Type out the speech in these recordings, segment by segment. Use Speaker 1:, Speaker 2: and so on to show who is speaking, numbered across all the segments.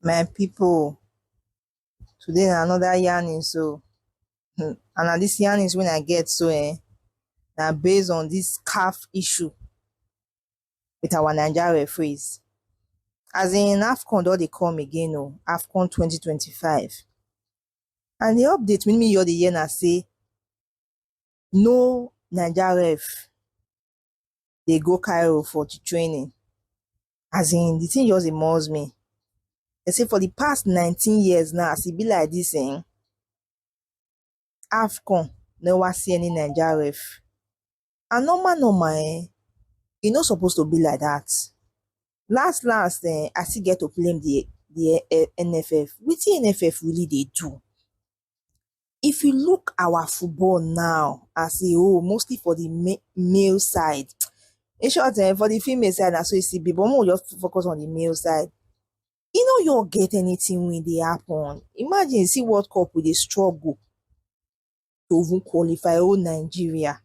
Speaker 1: my people today na another yarning so hmm, and na this yarnings when i get so eh na based on this calf issue with our Naija referees. As in AFCON don dey come again o, oh, AFCON 2025. And the update wey me hear dey hear na say no Naija ref dey go Cairo for the training. As in the thing just dey muzz me. They say for the past 19 years now, as e be like this, eh, AFCON never see any Naija ref and normal normal eh, e no suppose to be like that. Last last eh, I still get to blame the the eh, NFF. Wetin NFF really dey do? If you look our football now as a whole, mostly for the ma- male side, in short eh, for the female side na so e still be but make we just focus on the male side. E no your get anything wey dey happen. Imagine see World Cup we dey struggle to even qualify oh Nigeria.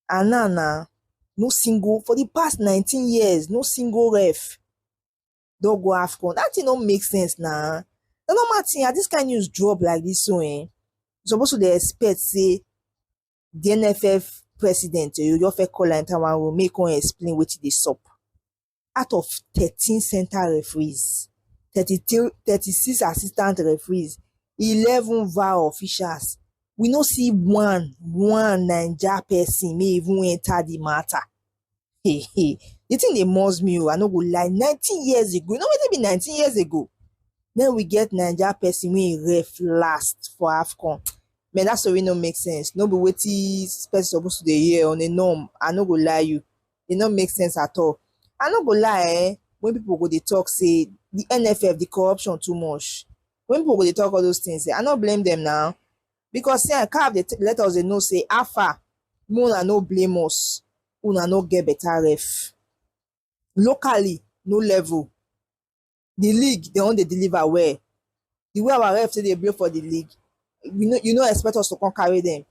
Speaker 1: And now now no single for the past 19 years, no single ref don't go AFCON. That thing don't make sense now. Nah. The normal thing, this kind of news drop like this so eh? Supposed to they expect say the NFF president, you just call and one will make one explain what they stop. out of thirteen centre referees thirty three thirty six assistant referees eleven var officials we no see one one naija person may even enter the matter hey hey the thing dey must me o oh, i no go lie nineteen years ago you know wetin be nineteen years ago then we get naija person wey ref last for afcon man that story no make sense no be wetin person suppose to dey hear on a norm i no go lie you e no make sense at all i no go lie eh when people go dey talk say the nff the corruption too much when people go dey talk all those things eh i no blame them now because see eh caf dey let us dey know say how far make una no blame us una no get better ref locally no level the league dem wan dey deliver well the way our ref take dey blow for the league you no you no expect us to come carry them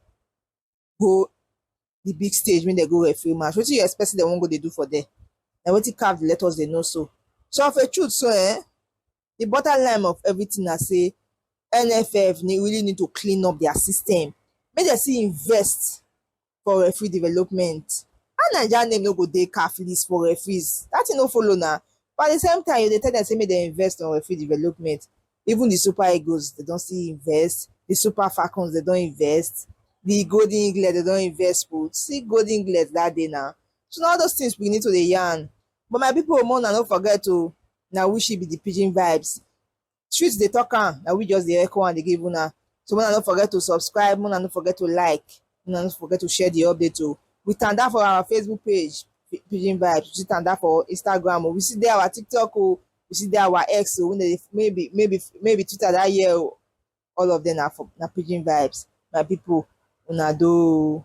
Speaker 1: go the big stage when they go referee match wetin you expect say dem wan go dey do for there na wetin caf dey let us dey know so so of a truth so eh the bottom line of everything na say nff need, really need to clean up their system make dem still invest for referee development how naija name no go dey caf list for referees that thing no follow na but at the same time you dey tell dem say make dem invest on referee development Even di Super Eagles dem don still invest, di Super Falcons dem don invest, di Golden Eaglet dem don invest put. See Golden Eaglet dat day na. So na all those things we need to dey yarn. But my people, more na no forget o, na we she be the pidgin vibes. Street dey talk am, na we just dey echo am dey give una. So una no forget to subscribe, una no forget to like, una no forget to share the update o. We tanda for our Facebook page, Pidgin Vibes. We still tanda for Instagram o. We still dey our TikTok o. you see that our ex o wey maybe maybe maybe twitter that year o all of them na for na pidgin vibes my people una do